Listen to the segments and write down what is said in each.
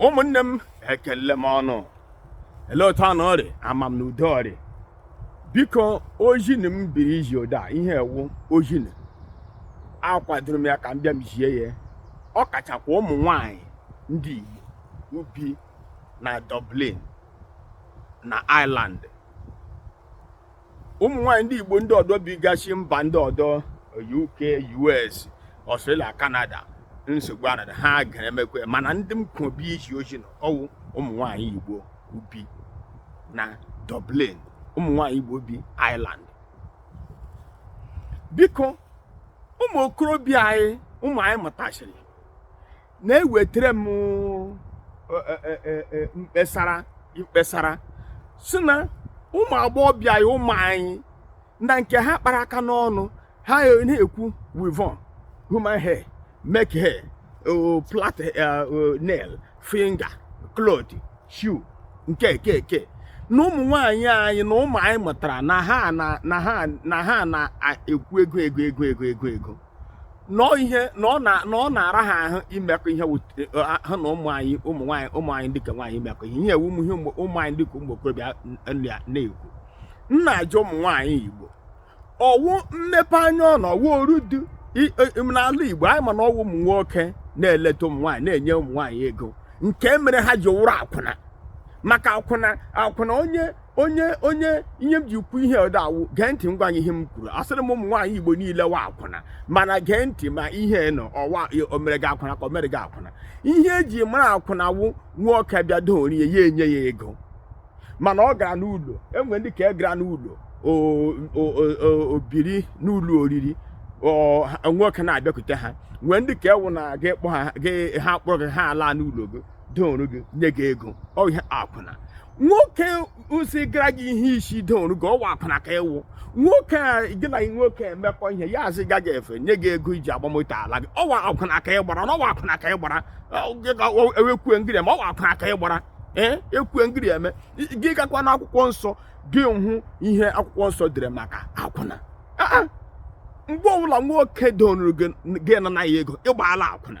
ụmụnne m ekele m ọnụ ele otu ọnụ rị ama m na udo rị biko ozi nụ m bịara izi ụdị ihe ọwụ ozi nụ akwadoro m ya ka m bịa m zie ya ọ kachakwa ụmụ nwanyị ndị Igbo bi na Dublin na Ireland ụmụ nwaanyị ndị igbo ndị ọdọ bigasị mba ndị ọdọ uk us australia canada nsogbu anada ha ga-emekwa mana ndị m kwobi izi ozi nụ ọwụ ụmụ nwaanyị igbo bi na dublin ụmụ nwaanyị igbo bi ireland biko ụmụ okorobịa anyị ụmụ anyị mụtasịrị na-ewetara m mkpesara mkpesara si na ụmụ agbọghọbịa ya ụmụ anyị na nke ha kpara aka n'ọnụ ha na-ekwu weavon human hair make hair plait nail finger cloth shoe nke eke eke na ụmụ nwaanyị anyị na ụmụ anyị mụtara na ha na ha na-ekwu ego ego ego ego ego ego na ihe na ọ na na ọ na-ara ha ahụ imekọ ihe wut- eh, ha na ụmụ anyị ụmụ nwaanyị ụmụ anyị ndị ke nwaanyị imekọ ihe ihe a wụ ụmụ ihe ụmụ ụmụ anyị ndị ke ụmụ okorobịa n- na- na-ekwu m na-ajụ ụmụ nwaanyị igbo ọwụ mmepe anya ọ na ọwụ oru dị i- e- n'ala igbo anyị ma na ọwụ ụmụ nwoke na-eleta ụmụ nwaanyị na-enye ụmụ nwaanyị ego nke mere ha ji wụrụ akwụna maka akwụna akwụna onye onye onye ihe m ji kwu ihe ọdọ awụ gee ntị nwayọ ihe m kwuru asịrị m ụmụ nwaanyị igbo niile wụ akwụna mana gee ntị ma ihe nụ ọwụ omere gị akwụna ka omere gị akwụna ihe eji mara akwụna wụ nwoke bịa doru ya ya enye ya ego mana ọ gara n'ụlọ enwe ndị ke gara n'ụlọ biri n'ụlọ oriri nwoke na-abịakwute ha nwee ndị ke wụ na gị kpọ ha gị ha kpọrọ gị ha ala n'ụlọ gị doro gị nye gị ego ọ ihe akwụna nwoke zụgara gị ihe isi doru gị ọwụ akwụna ka ịwụ nwoke a gị na nwoke emekọ ihe ya azụga gị efe nye gị ego iji agba moto ala gị ọwụ akwụna ka ị gbara n'ọwụ akwụna ka ị gbara ọ, gị ga- ọ, ewekwue ngiri eme ọwụ akwụna ka ị gbara ee ekwue ngiri eme I- gị gakwa na akwụkwọ nsọ gị hụ ihe akwụkwọ nsọ dere maka akwụna Ah, ah. mgbe ọbụla nwoke doru gị gị anana ya ego ịgbaala akwụna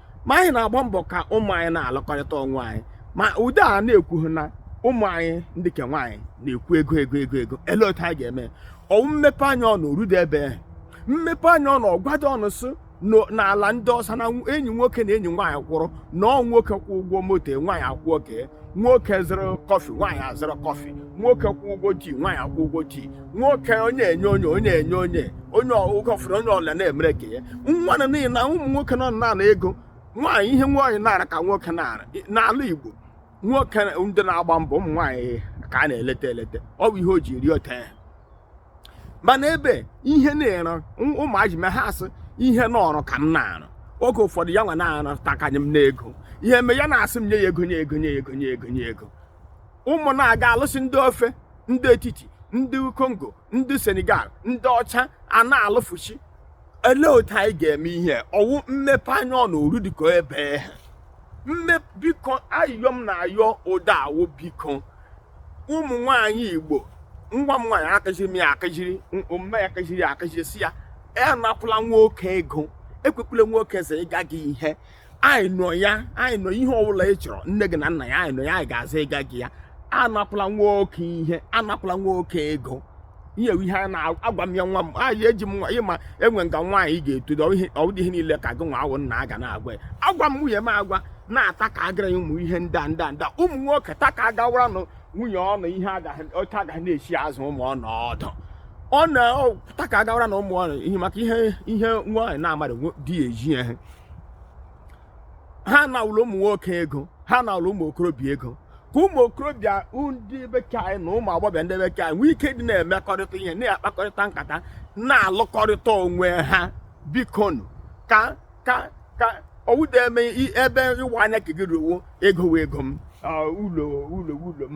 ma anyị na-agba mbọ ka ụmụ anyị na-alụkọrịta onwe anyị ma ude a na-ekwu ha na ụmụ anyị ndị ke nwaanyị na-ekwu ego ego ego ego ele otu anyị ga-eme ọwụ mmepe anya ọnụ orude ebe mmepe anya ọnụ ọgwado ọnụ sị n'ala ndị ọsa na enyi nwoke na enyi nwaanyị kwụrụ na ọ nwoke kwụ ụgwọ moto nwaanyị akwụọ ke nwoke zụrụ kọfị nwaanyị azụrụ kọfị nwoke kwụ ụgwọ tii nwaanyị akwụ ụgwọ tii nwoke onye enye onye onye enye onye onye ụgọfụrụ onye ọla na-emere ka ya nwa na n'ihi na ụmụ nwoke nọ na-ana ego nwaanyị ihe nwaanyị na-arụ ka nwoke na-arụ n'ala Igbo nwoke ndị na-agba mbọ ụmụ nwaanyị ka a na-eleta eleta ọ wụ ihe o ji eri otu ahụ mana ebe ihe na-ere ụmụaji me ha asị ihe n'ọrụ ka m na-arụ oge ụfọdụ ya nwa na-arụ takanye m n'ego ihe eme ya na-asị m nye ya ego nye ego nye ego nye ego nye ego ụmụ na-aga alụsị ndị ofe ndị etiti ndị kongo ndị senegal ndị ọcha a na-alụfuchi elee otu anyị ga-eme ihe ọ wụ mmepe anya ọ na oru dịka ebe a mme biko ayịyọ m na-ayọ ụda a wụ biko ụmụ nwanyị igbo nwa m nwaanyị akuziri m ya akuziri omume ya akuziri ya akuziri sị ya ya anakwula nwoke ego ekwekwula nwoke zụ ịga gị ihe anyị nọ ya anyị nọ ya ihe ọbụla ị chọrọ nne gị na nna ya anyị nọ ya anyị ga-azụ ịga gị ya anakwula nwoke ihe anakwula nwoke ego ihe ihe a na-agwa m ya nwa m nwaanyị eji m ịma enwe nga nwaanyị ga-eto ọdị ihe niile ka gị nwa wụ nna ga na-agwa ya agwa m nwunye m agwa na taa ka agara ya ụmụ ihe ndị a ndị a ndị ụmụ nwoke taa ka agawara nụ nwunye ọnụ ihe oke agaghị na-esi azụ ụmụ ọnụ ọdụ ọ na-ata ka agawara nụ ụmụ ọnụ ihe maka ihe ihe nwaanyị na-amara di ya eji ya ha anala ụmụ nwoke ego ha anala ụmụ okorobịa ego ka ụmụ okorobịa ndị be ke anyị na ụmụ agbọghọbịa ndị ebe ke anyị nwee ike dị na-emekọrịta ihe na-akpakọrịta nkata na-alụkọrịta onwe ha bikonu ka ka ka ọ wụdị eme ebe ịwa anya ke gị ruo ego wụ ego m ụlọ wụ ụlọ m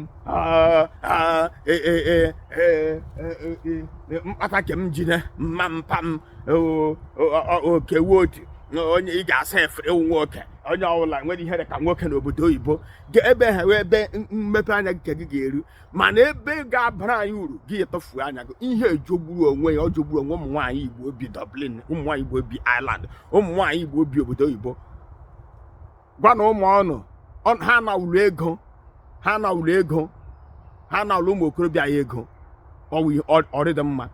mkpata ke m jide mma mpa m oke wụ otu onye ị ga-asa efere ị wụ nwoke onye ọbụla nwere ihe dịka nwoke n'obodo oyibo ebe ahụ wụ ebe mmepe anya nke gị ga-eru mana ebe ga-abara anyị uru gị etufu anya gị ihe a jọgburu onwe ya ọ jọgburu onwe ụmụ nwaanyị igbo bi Dublin ụmụ nwaanyị igbo bi Ireland ụmụ nwaanyị igbo bi obodo oyibo gwa nụ ụmụ ọnụ ha anala ego ha anala ego ha anala ụmụ okorobịa ego ọ rịdị mma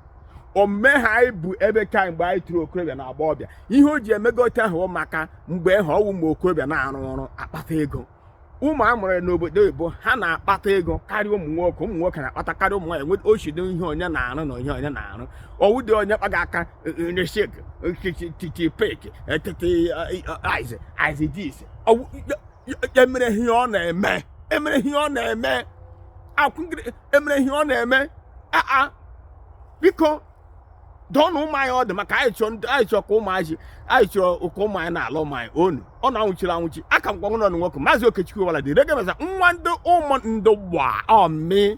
omume ha anyị bụ ebe ka mgbe anyị toro okorobịa na agbọghọbịa ihe o ji emega otu ahụ maka mgbe ahụ ọ wụ ụmụ okorobịa na-arụ ọrụ akpata ego ụmụ a mụrụ n'obodo oyibo ha na-akpata ego karịa ụmụ nwoke ụmụ nwoke na-akpata karịa ụmụ nwaanyị nweta ochido ihe onye na-arụ na onye onye na-arụ ọ wụdị onye kpaga aka Nesek, Tipek, Aize, Aize Dise. Emere ihe ọ na-eme. Emere ihe ọ na-eme. Akwụgịrị emere ihe ọ na-eme. Aa, biko, dụọnụ ụmụ anyị ọdụ maka anyị chọọ ndị anyị chọọ ka ụmụ anyị na-ala ụmụ anyị ọnwụ ọnwụ anwụchiri anwụchi aa ka m gwanụ unu nwoke Maazị Okechukwu wala dị regemeza nwa ndị ụmụ ndị gba ọmị